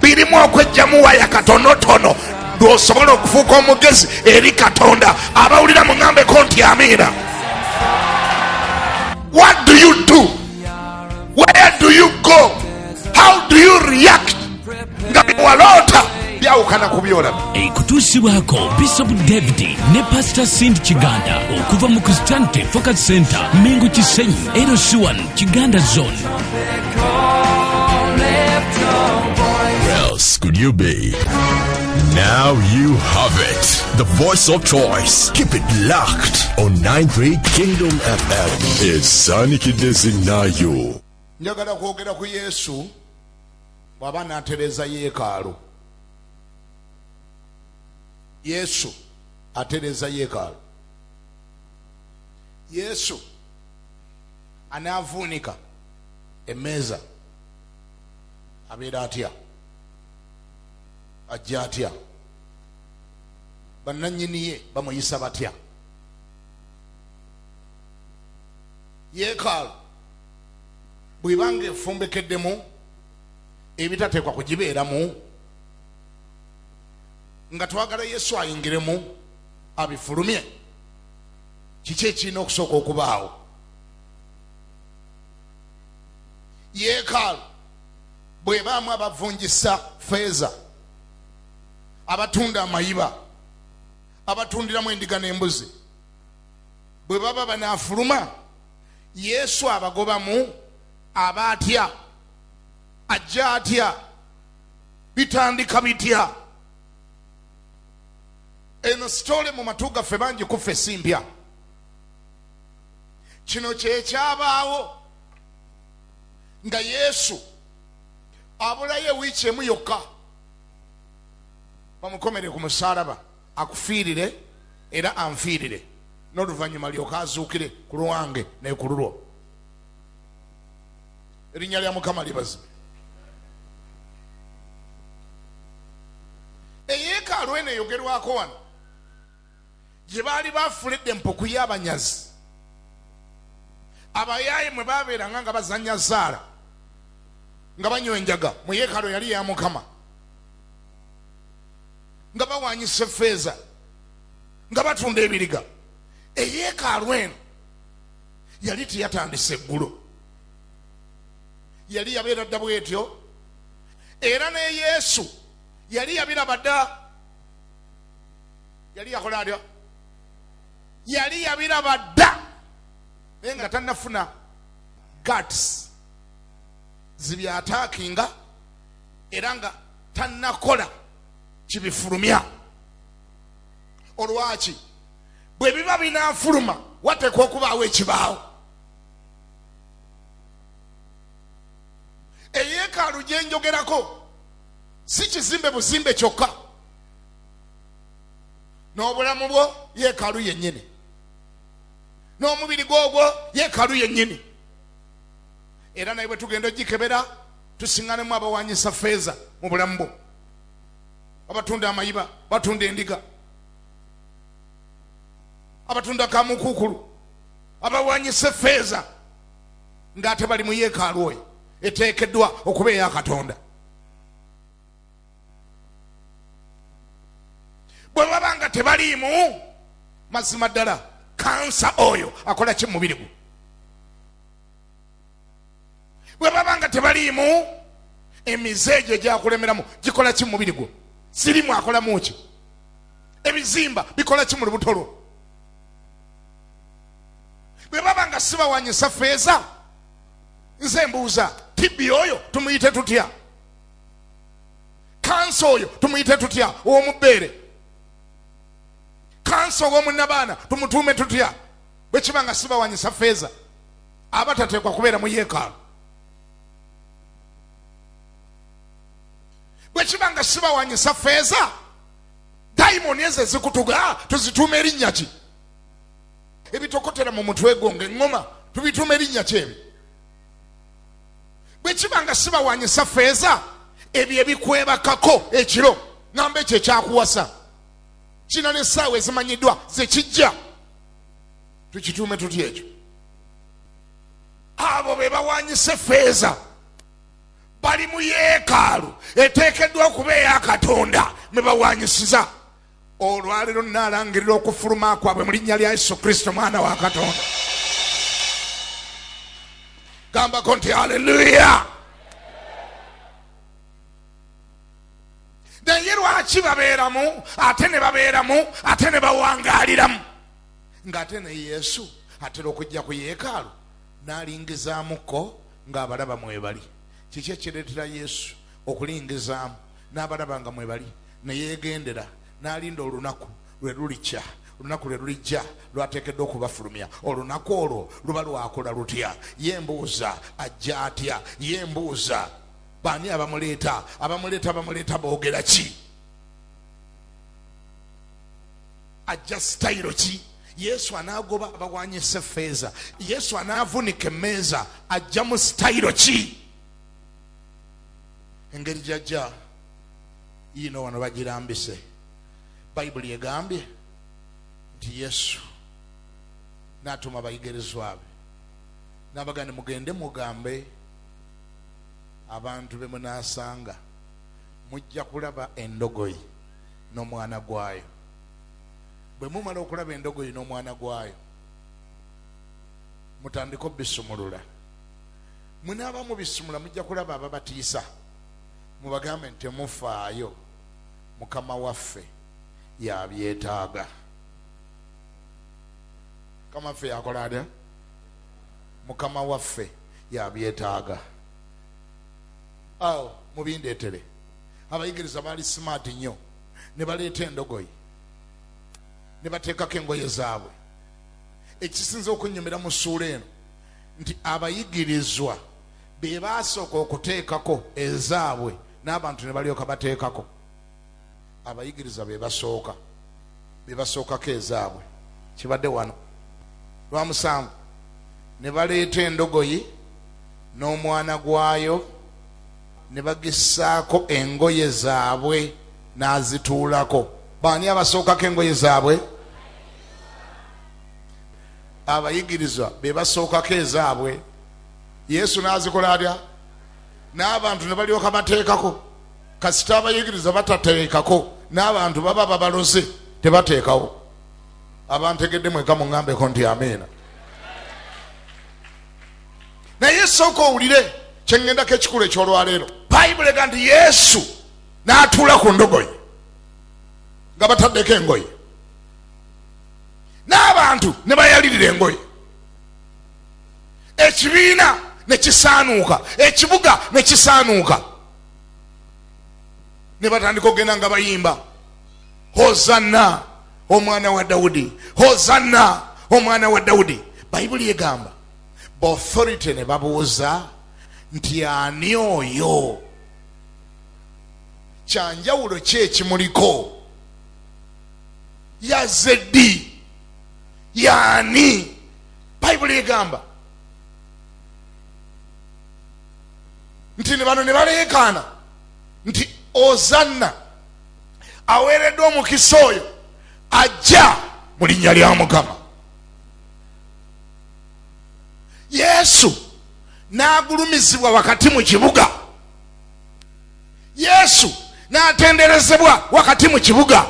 birimu okwejjamu waya katonotono lwosobola okufuuka omugezi eri katonda abawulira muŋambeko nti amiina what do you do where do you go how do you react nga biwaloota byawukana ku byolabi ekutuusibwako bishop david ne pastor sind kiganda okuva mu christianity focus center mingu kisenyi erosi 1 Kiganda Zone. else could you be? Now you have it. The voice of choice. Keep it locked on 93 Kingdom FM. Esanikidde zinnayo. njagala kwogera ku yesu bw'aba n'atereeza yeekaalu yesu atereeza yeekaalu yesu anaavuunika emmeeza abeera atya ajja atya bannannyini ye bamuyisa batya yeekaalu bwebanga efumbekeddemu ebitateekwa kugibeeramu nga twagala yesu ayingiremu abifulumye kiki ekirina okusooka okubaawo yeekaalu bwebaamu abavunjisa feeza abatunda amayiba abatundiramu endiga n'embuzi bwe baba banaafuluma yesu abagobamu aba atya ajja atya bitandika bitya eno sitole mu matu gaffe bangi kuffe esimbya kino kyekyabaawo nga yesu abulayo ewiiki emu yokka bamukomere ku musaalaba akufiirire era anfiirire n'oluvannyuma lyoka azuukire ku lwange nekululwo erinnya lya mukama libazibwe eyeekaalu eno eyogerwako wano gye baali baafula eddempa okuya abanyazi abayaaye mwe babeeranga nga bazanya zaala nga banywa enjaga mu yeekaalu yali ya mukama nga bawanyisa efeeza nga batunda ebiriga eyeekaalu eno yali teyatandisa eggulo yali yabeera dda bwetyo era ne yesu yali yabiraba dda yali yakola atya yali yabiraba dda naye nga tanafuna gats zibyatakinga era nga tanakola kibifulumya olwaki bwe biba binafuluma wateekwa okubaawo ekibaawo eyeekaalu gye njogerako si kizimbe buzimbe kyokka n'obulamu bwo yeekaalu yennyini n'omubiri gwogwo yeekaalu yennyini era naye bwe tugenda ogikebera tusiŋanemu abawanyisa feeza mu bulamu bwo abatunda amayiba batunda endiga abatunda kamukuukulu abawanyisa effeeza ng'ate bali mu yeekaalu oyo eteekeddwa okuba eya katonda bwe baba nga tebaliimu mazima ddala kansa oyo akola ki mumubiri gwe bwe baba nga tebaliimu emize egyo egyakulemeramu gikola ki mumubiri gwo sirimu akolamu ki ebizimba bikola ki mu lubuto lwo bwe baba nga sibawanyisa feeza nze mbuuza tibbi oyo tumuyite tutya kansa oyo tumuyite tutya owomubbeere kansa owomunabaana tumutuume tutya bwe kiba nga sibawanyisa feeza aba tateekwa kubeera mu yeekaalu bwe kiba nga sibawanyisa feeza dayimoni ezo ezikutuga ah, tuzituuma erinnya ki ebitokotera mu mutwe gwo nga eŋŋoma tubituuma erinnya ki ebyo bwe kiba nga sibawanyisa feeza ebyo ebikwebakako ekiro ŋamba ekyo ekyakuwasa kina n'essaawa ezimanyiddwa zekijja tukituume tutya ekyo abo be bawanyisa feeza bali mu yeekaalu eteekeddwa okuba eya katonda mwe bawanyisiza olwaleero nalangirira okufuluma kwabwe mu linnya lya yesu kristo mwana wa katonda gambako nti aleluya naye lwaki babeeramu ate ne babeeramu ate ne bawangaaliramu ng'ate ne yesu atera okujja ku yeekaalu N'alingizaamu ko ng'abalaba mwebali. Kiki ekireetera Yesu okulingizaamu n'abalaba nga mwebali? Ne yeegendera n'alinda olunaku lwe lulikya, olunaku lwe lulijja lw'ateekeddwa okubafulumya. Olunaku olwo luba lwakola lutya? Ye mbuuza, ajja atya? Ye mbuuza, baani abamuleeta? Abamuleeta bamuleeta boogera ki? ajja sitayiro ki yesu anaagoba abawanyisa effeeza yesu anaavunika emmeeza ajja mu sitayiro ki engeri gyajja yiino wano bagirambise bayibuli egambye nti yesu n'atuma abayigirizwa be n'abagane mugende mugambe abantu be munaasanga mujja kulaba endogoyi n'omwana gwayo. Bwe mumala okulaba endogoyi n'omwana gwayo, mutandike obisumulula. Munaaba mubisumula mujja kulaba ababatiisa, mubagambe nti temufaayo, Mukama waffe y'abyetaaga. Mukama waffe y'akola atya? Mukama waffe y'abyetaaga. Awo mubindeetere. abayigiriza baali simaati nnyo ne baleeta endogoyi ne bateekako engoye zaabwe ekisinza okunnyumira mu ssuula eno nti abayigirizwa be baasooka okuteekako ezaabwe n'abantu ne balyoka bateekako abayigiriza be basooka be basookako ezaabwe kibadde wano lwa musanvu ne baleeta endogoyi n'omwana gwayo ne bagissaako engoye zaabwe n'azituulako baani abasookako engoye zaabwe abayigirizwa be basookako ezaabwe yesu n'azikola atya n'abantu ne balyoka bateekako kasita abayigiriza batateekako n'abantu baba babaloze tebateekawo abantegedde mweka muŋambeko nti amiina naye sooka owulire kyeŋŋendako ekikulu eky'olwaleero bayibuli ega nti yesu n'atuula ku ndogoyi nga bataddeko engoye n'abantu ne bayalirira engoye ekibiina ne kisaanuuka ekibuga ne kisaanuuka ne batandika okugenda nga bayimba hozanna omwana wa dawudi hozanna omwana wa dawudi bayibuli egamba bauthority ne babuuza nti ani oyo kyanjawulo ki ekimuliko yazze ddi yaani bayibuli egamba nti ne bano ne baleekaana nti ozanna aweereddwa omukisa oyo ajja mu linnya lya mukama yesu n'agulumizibwa wakati mu kibuga yesu n'atenderezebwa wakati mu kibuga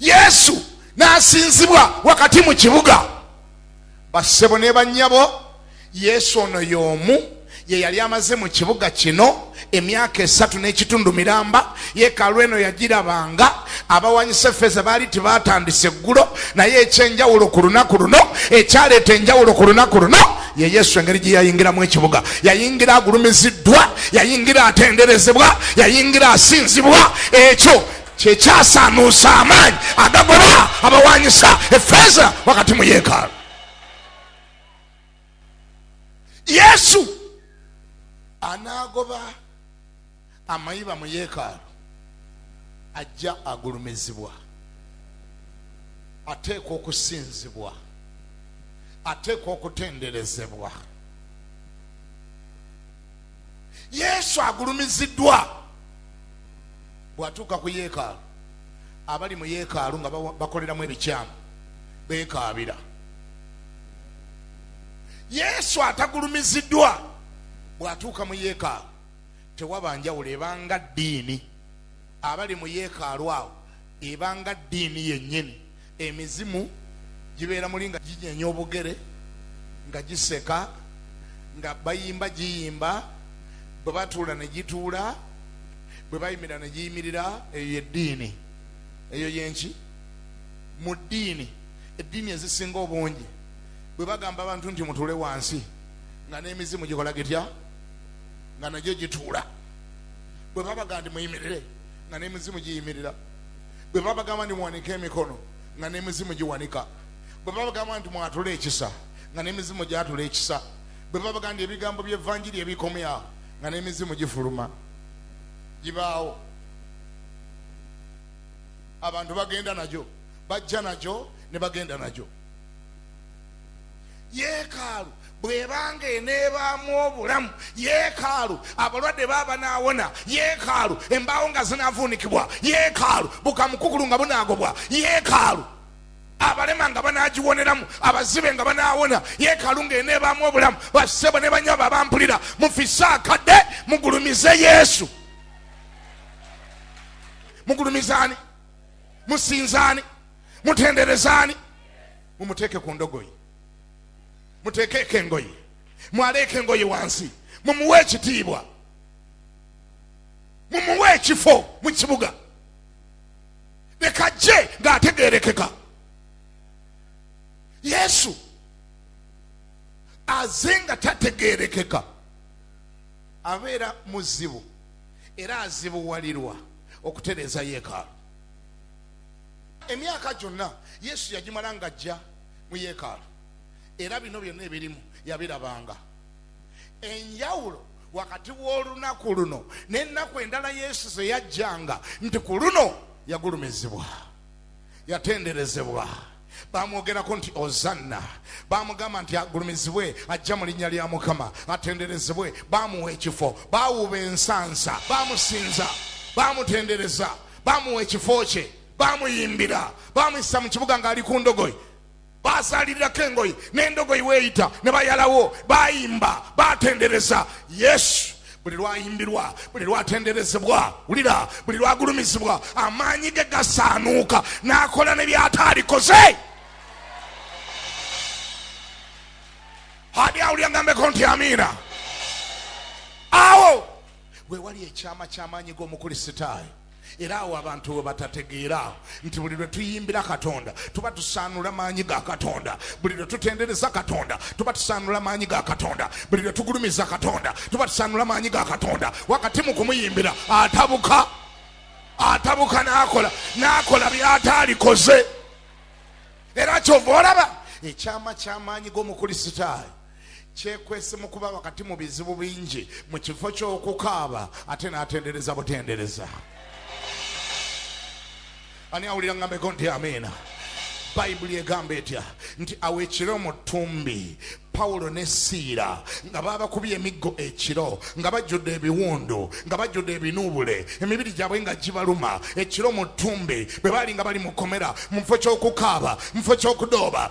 yesu n'asinzibwa wakati mu kibuga bassebo ne bannyabo yesu ono y'omu ye yali amaze mu kibuga kino emyaka esatu n'ekitundu miramba yeekaalu eno yagirabanga abawanyisa efeeza baali tebatandise eggulo naye ekyenjawulo ku lunaku luno ekyaleeta enjawulo ku lunaku luno ye yesu engeri gye yayingiramu ekibuga yayingira agulumiziddwa yayingira atenderezebwa yayingira asinzibwa ekyo kyekyasaanuusa amaanyi agagoba abawanyisa efeeza wakati mu yeekaalu yesu anaagoba amayiba mu yeekaalu ajja agulumizibwa ateekwa okusinzibwa ateekwa okutenderezebwa yesu agulumiziddwa bw'atuuka ku yeekaalu abali mu yeekaalu nga bakoleramu ebikyamu beekaabira yesu atagulumiziddwa bw'atuuka mu yeekaalu tewaba njawulo ebanga ddiini abali mu yeekaalu awo ebanga ddiini yennyini emizimu gibeera muli nga ginyenya obugere nga giseka nga bayimba giyimba bwe batuula ne gituula bwe bayimira ne giyimirira eyo yeddiini eyo yenki mu ddiini eddiini ezisinga obungi bwe bagamba abantu nti mutuule wansi nga n'emizimu gikola gitya nga nagyo gituula bwe babaga nti muyimirire nga n'emizimu giyimirira bwe babagamba nti muwanike emikono nga n'emizimu giwanika bwe babagamba nti mwatule ekisa nga n'emizimu gyatula ekisa bwe babagamba nti ebigambo by'evanjiri ebikomyawo nga n'emizimu gifuluma gibaawo abantu bagenda nagyo bajja nagyo ne bagenda nagyo yeekaalu bwebanga eneebaamu obulamu yeekaalu abalwadde baba banaawona yeekaalu embaawo nga zinaavuunikibwa yeekaalu bukamukukulu nga bunaagobwa yeekaalu abalema nga banagiwoneramu abazibe nga banawona yekalu nga eneebaamu obulamu basebo ne banyabo abampulira mufise akadde mugulumize yesu mugulumizaani musinzaani mutenderezaani mumuteeke ku ndogoyi muteekeeko engoye mwaleeko engoye wansi mumuwe ekitiibwa mumuwe ekifo mu kibuga leka jje ng'ategeerekeka yesu aze nga tategeerekeka abeera muzibu era azibuwalirwa okutereeza yeekaalu emyaka gyonna yesu yagimala nga ajja mu yeekaalu era bino byonna ebirimu yabirabanga enjawulo wakati w'olunaku luno n'ennaku endala yesu ze yajjanga nti ku luno yagulumizibwa yatenderezebwa bamwogerako nti ozanna bamugamba nti agulumizibwe ajja mu linnya lya mukama atenderezebwe bamuwa ekifo bawuba ensansa bamusinza bamutendereza bamuwa ekifo kye bamuyimbira bamuyisa mu kibuga ng'ali ku ndogoyi basaalirirako engoyi n'endogoyi weeyita ne bayalawo bayimba batendereza yesu buli lwayimbirwa buli lwatenderezebwa wulira buli lwagulumizibwa amaanyi ge gasaanuuka n'akola ne byataalikoze ani awulira ngambeko nti amiina awo wewali ekyama ky'amaanyi g'omukulisitaayo Era awo abantu we batategeera awo nti buli lwe tuyimbira Katonda tuba tusaanula maanyi ga Katonda, buli lwe tutendereza Katonda tuba tusaanula maanyi ga Katonda, buli lwe tugulumiza Katonda tuba tusaanula maanyi ga Katonda. Wakati mu kumuyimbira atabuka, atabuka n'akola n'akola by'ataalikoze. Era kyova olaba ekyama ky'amaanyi g'Omukristaayo. kyekwese mu kuba wakati mu bizibu bingi mu kifo ky'okukaaba ate n'atendereza butendereza ani awulira ngambeko nti amiina bayibuli egamba etya nti awo ekiro mu ttumbi pawulo ne siira nga baabakubye emiggo ekiro nga bajjudde ebiwundu nga bajjudde ebinuubule emibiri gyabwe nga gibaluma ekiro mu ttumbi bwe baali nga bali mu kkomera mu kifo ky'okukaaba mu kifo ky'okudooba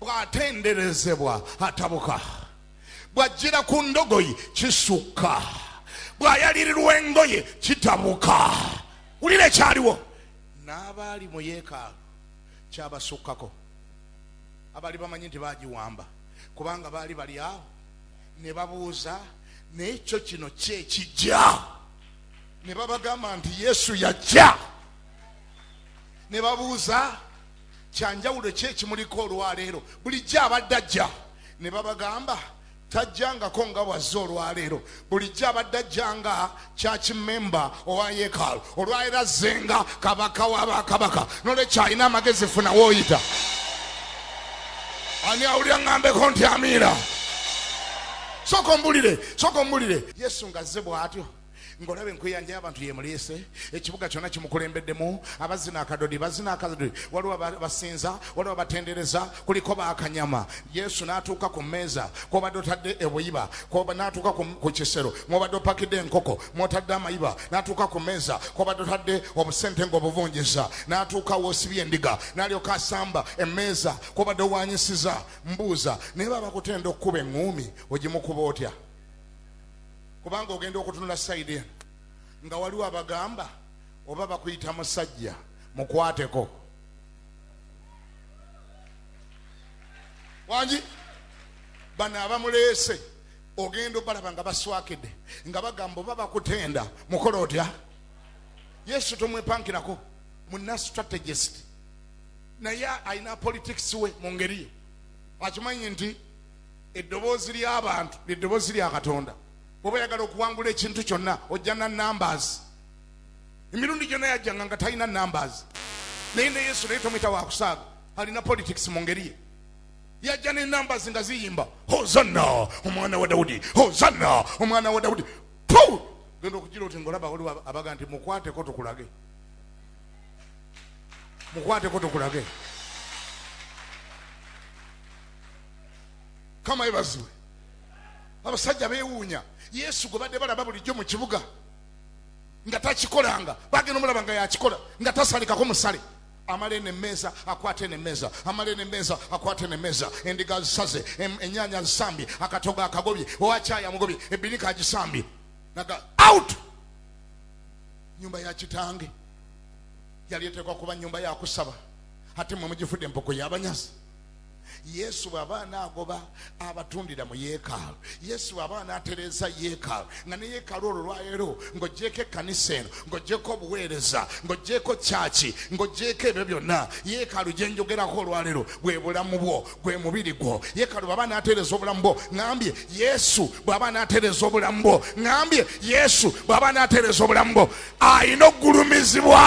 bw'atenderezebwa atabuka bw'ajjira ku ndogoyi kisukka bw'ayalirirwa engoye kitabuka wulira ekyaliwo n'abaali mu yeekaalu kyabasukkako abaali bamanyi nti bagiwamba kubanga baali bali awo ne babuuza naye kyo kino kyekijja ne babagamba nti yesu yajja ne babuuza kyanjawulo ki ekimuliko olwaleero bulijjo abadde ajja ne babagamba tajjangako nga bwazze olwaleero bulijjo abadde ajjanga kyaki memba owa yekaalo olwaleero azzenga kabaka wa bakabaka nolwekyo alina amagezi funa woyita ani awulira ŋambeko nti amiira soka ombulire soka ombulire yesu nga zze bwatyo ng'olaba enkweyanja y'abantu yemuleese ekibuga kyonna kimukulembeddemu abazina akadodi bazina akadodi waliwo basinza waliwo batendereza kuliko bakanyama yesu n'atuuka ku mmeeza kwobadde otadde ebuyiba n'atuuka ku kisero mwobadde opakidde enkoko mwotadde amayiba n'atuuka ku mmeeza kwobadde otadde obusente ng'obuvunjiza n'atuuka wosibye endiga n'alyoka asamba emmeeza kwobadde owanyisiza mbuuza naye babakutenda okukuba eŋŋuumi ogimukuba otya kubanga ogenda okutunula sayidi eno nga waliwo abagamba oba bakuyita musajja mukwateko wangi bano abamuleese ogenda obalaba nga baswakide nga bagamba oba bakutenda mukola otya yesu tomwepankirako muna strategist naye alina politics we mu ngeri ye akimanyi nti Eddoboozi ly'abantu lye ddoboozi lya Katonda. Bw'oba oyagala okuwangula ekintu kyonna ojja na numbers. Emirundi gyonna yajjanga nga talina numbers. Naye ne Yesu naye tomuyita wa kusaaga, alina politics mu ngeri ye. Yajja ne numbers nga ziyimba hozanna omwana wa Dawudi, hozanna omwana wa Dawudi. Puu! Genda okugira oti ng'olaba waliwo abaga nti mukwateko tukulage, mukwateko tukulage. kama yebazibwe abasajja bewuunya yesu gwe badde balaba bulijjo mu kibuga nga takikolanga bagenda omulaba nga yakikola nga tasalikako musale amale nemmeeza akwate nemmeeza amale nemmeeza akwate nemmeeza endiga zisaze ennyanya zisambye akatogo akagobye owakyaya mugobye ebinika agisambye naga out nyumba ya kitange yali eteekwa kuba nyumba yakusaba ate mwe mugifudde empoko yabanyazi yesu bw'aba anaagoba abatundira mu yeekaalu yesu bw'aba anaatereeza yeekaalu nga ne yeekaalu olwo lwaleero ng'ogyeko ekkanisa eno ng'ogyeko obuweereza ng'ogyeko kyaki ng'ogyeko ebyo byonna yeekaalu gye njogerako olwaleero bwe bulamu bwo gwe mubiri gwo yeekaalu bw'aba anaatereeza obulamu bwo ŋambye yesu bw'aba anaatereeza obulamu bwo ŋambye yesu bw'aba anaatereeza obulamu bwo alina okugulumizibwa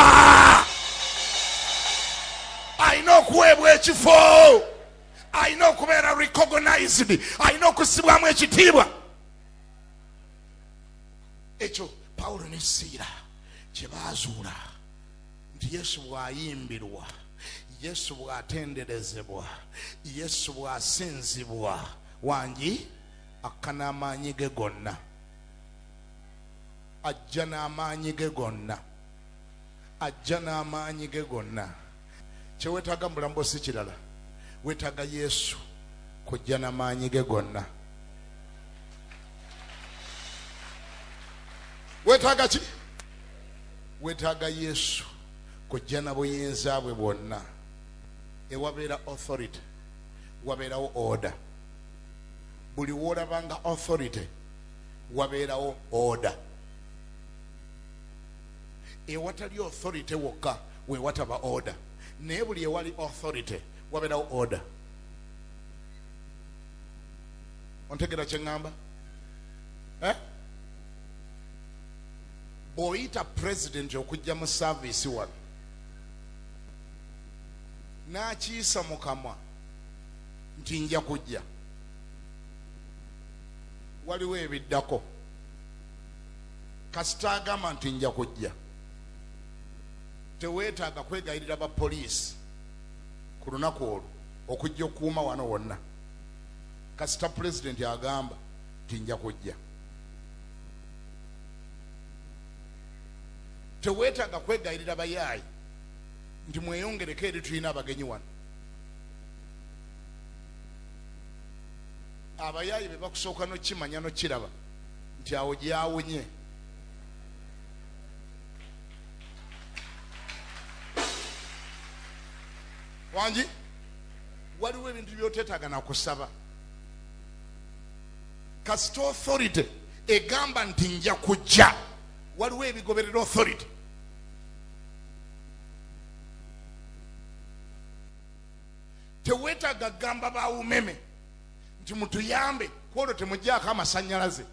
alina okuweebwa ekifo alina okubeera recognized alina okusibwamu ekitiibwa ekyo pawulo ne siira kye baazuula nti yesu bw'ayimbirwa yesu bw'atenderezebwa yesu bw'asinzibwa wangi akkana amaanyi ge gonna Ajja n'amaanyi ge gonna. Ajja n'amaanyi ge gonna. Kyewetaaga mu bulamu bwo si kirala. Wetaaga Yesu kujja na maanyi ge gonna. Wetaaga ki? Wetaaga Yesu kujja na buyinza bwe bwonna. Ewabeera authority, wabeerawo order. Buli woolabanga authority. wabeerawo order ewatali authority wokka wewataba order naye buli ewali authority wabeerawo order ontegera kyeŋŋamba eh? bw'oyita pulezidenti okujja mu saaviisi wano n'akiisa mu kamwa nti nja kujja waliwo ebiddako kasita agamba nti nja kujja teweetaaga kwegayirira ba poliisi ku lunaku olwo okujja okukuuma wano wonna kasita pulezidenti agamba nti nja kujja teweetaaga kwegayirira bayaayi nti mweyongereko eri tulina abagenyi wano abayaaye be bakusooka nokimanya nokiraba nti awo gyawunye wangi waliwo ebintu byoteetaaga nakusaba kasita authority egamba nti nja kujja waliwo ebigoberera authority teweetaaga kugamba bawumeme nti mutuyambe kwolwo temujjaako amasanyalaze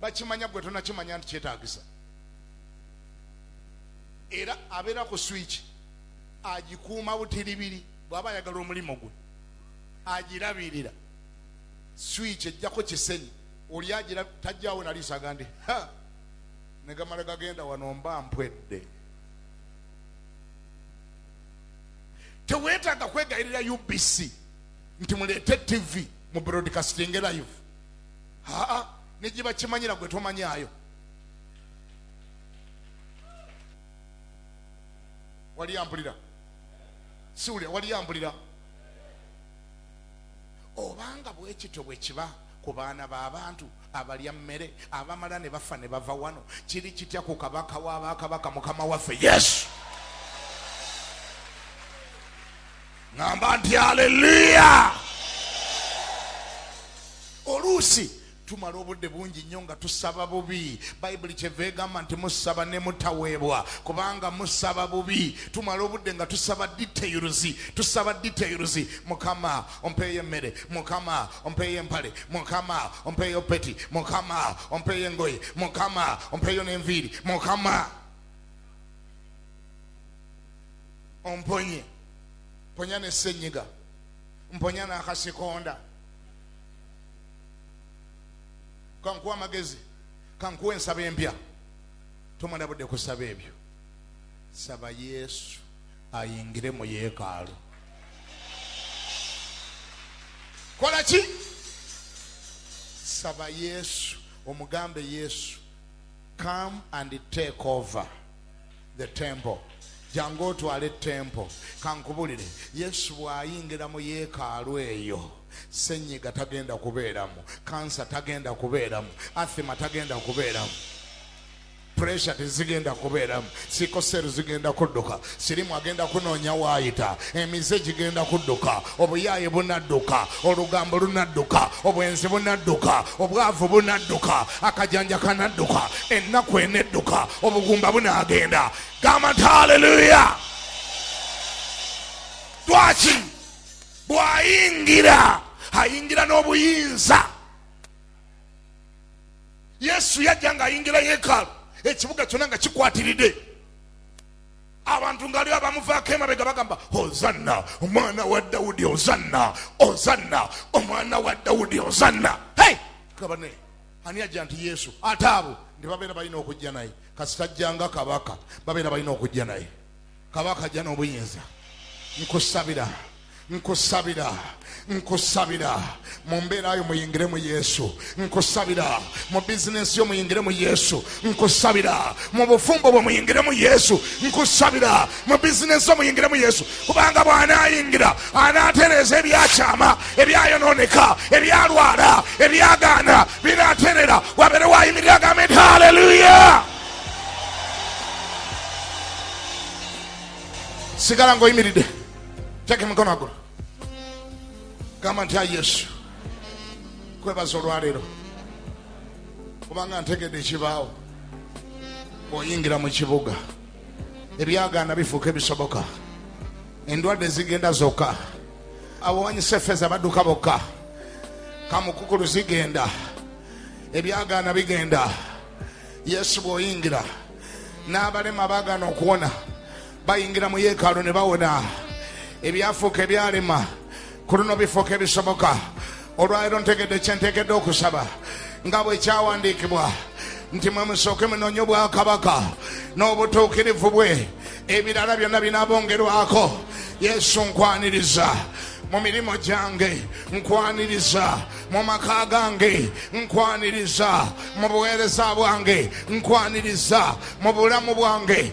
bakimanya gwe tonakimanya nti kyetagisa era abeera ku swiki agikuuma butiribiri bwaba ayagala omulimu gwe agirabirira swiki ejjako kisenyi oli agira tajjawo naliisaga ndi negamala gagenda wano mba mpwedde tewetaaga kwegayirira ubc nti muleete tv mu broadcasting live aa negibakimanyira gwe tomanyaayo wali ampulira siwulira wali ampulira Obanga bwe kityo bwe kiba ku baana b'abantu abalya mmere abamala ne bafa ne bava wano, kiri kitya ku Kabaka wa bakabaka, Mukama waffe Yesu? Ngamba nti aleluya! Oluusi tumala obudde bungi nnyo nga tusaba bubi bayibuli kyeva egamba nti musaba ne mutaweebwa kubanga musaba bubi tumala obudde nga tusaba details tusaba details mukama ompeeyo emmere mukama ompeeyo empale mukama ompeeyo peti mukama ompeeyo engoye mukama ompeeyo n'enviiri mukama omponye mponya ne ssenyiga mponya n'akasikonda kankuwa amagezi kankuwa ensaba empya tomala budde kusaba ebyo saba yesu ayingire mu yeekaalu kola ki saba yesu omugambe yesu come and take over the temple jangu otwale tempo kankubulire yesu bwayingira mu yeekaalu eyo senyiga tagenda kubeeramu kansa tagenda kubeeramu athima tagenda kubeeramu pressure tezigenda kubeeramu sikoseru zigenda kudduka sirimu agenda kunoonya waayita emize gigenda kudduka obuyaaye bunadduka olugambo lunadduka obwenzi bunadduka obwavu bunadduka akajanja kanadduka ennaku enedduka obugumba bunagenda gamba nti haleluya lwaki bwayingira ayingira n'obuyinza yesu yajja nga ayingira yekaalu ekibuga kyona nga kikwatiridde abantu nga liba bamuvaako emabega bagamba ozanna omwana wa dawudi ozanna ozanna omwana wa dawudi ozanna hey! kabane ani ajja nti yesu ate abo nti babeera balina okujja naye kasitajjanga kabaka babeera balina okujja naye kabaka ajja n'obuyinza nkusabira nkusabira nkusabira mu mbeera yo muyingire mu yesu nkusabira mu bizinensi yo muyingire mu yesu nkusabira mu bufumbo bwe muyingire mu yesu nkusabira mu bizinensi yo muyingire mu yesu kubanga bw'anaayingira anaatereeza ebyakyama ebyayonooneka ebyalwala ebyagaana binaaterera wabeere waayimirira agambe nti haleluya sigala ng'oyimiridde teka emikono agulu gamba nti ayi yesu kwebaza olwaleero kubanga ntegedde ekibaawo bw'oyingira mu kibuga ebyagaana bifuuka ebisoboka endwadde zigenda zokka abawanyisa efeeza badduka bokka kamukukulu zigenda ebyagaana bigenda yesu bw'oyingira n'abalema bagaana okuwona bayingira mu yeekaalu ne bawona ebyafuuka ebyalema ku luno bifuuka ebisoboka olwaleero ntegedde kyentegedde okusaba nga bwe kyawandiikibwa nti mwe musooke munoonye obwakabaka n'obutuukirivu bwe ebirala byonna binaabongerwako yesu nkwaniriza mu mirimu gyange nkwaniriza mu maka gange nkwaniriza mu buweereza bwange nkwaniriza mu bulamu bwange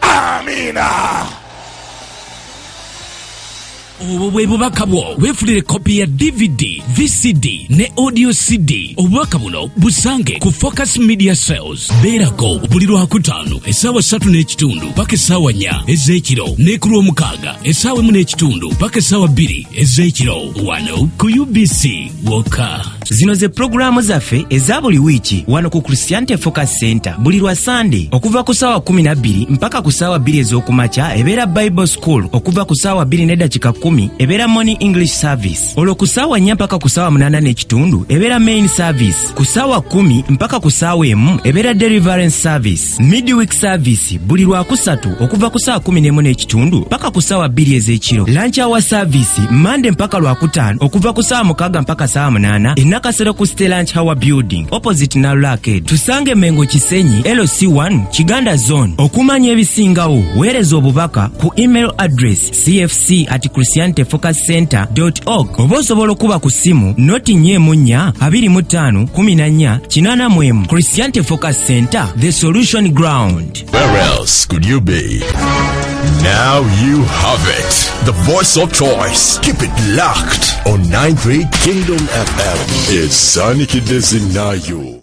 amiina obwo bwe bubaka bwo weefulire kopi ya dvd vcd ne audio cd obubaka buno busange ku focus media sales beerako buli lwakutaano essaawa satu n'ekitundu paka essaawa nya ez'ekiro ne ku lw'omukaaga essaawa emu n'ekitundu paka essaawa bbiri ez'ekiro wano ku ubc wokka zino ze pulogulaamu zaffe eza buli wiiki wano ku christiante focus center buli lwa sande okuva ku saawa 12 mpaka ku saawa 2 ez'okumakya ebeera bible school okuva ku saawa 2 nedakika 1 ebeera morning english service olwo ku saawa 4 mpaka ku saawa 8 n'ekitundu ebeera main service ku saawa 1 mpaka ku saawa emu ebeera deliverance service midweek service buli lwakusatu okuva ku saa 11 n'ekitundu paka ku saawa bbiri ez'ekiro lancawa service mande mpaka lwakutaano okuva ku saawa mukaaga mpaka saawa munaana enakasero ku ste lanch hower building opposite nalulaked tusange mengo kisenyi lc1 kiganda zone okumanya ebisingawo weereza obubaka ku email address cfc at christianity focus center org oba osobola okuba ku ssimu noti nya emu nnya abiri mu ttaano kumi na nnya kinaana mu emu christianity focus center the solution ground Where else could you be? Now you have it. The voice of choice. Keep it locked on 93 Kingdom FM. It's Sonic Dizzy Nayo.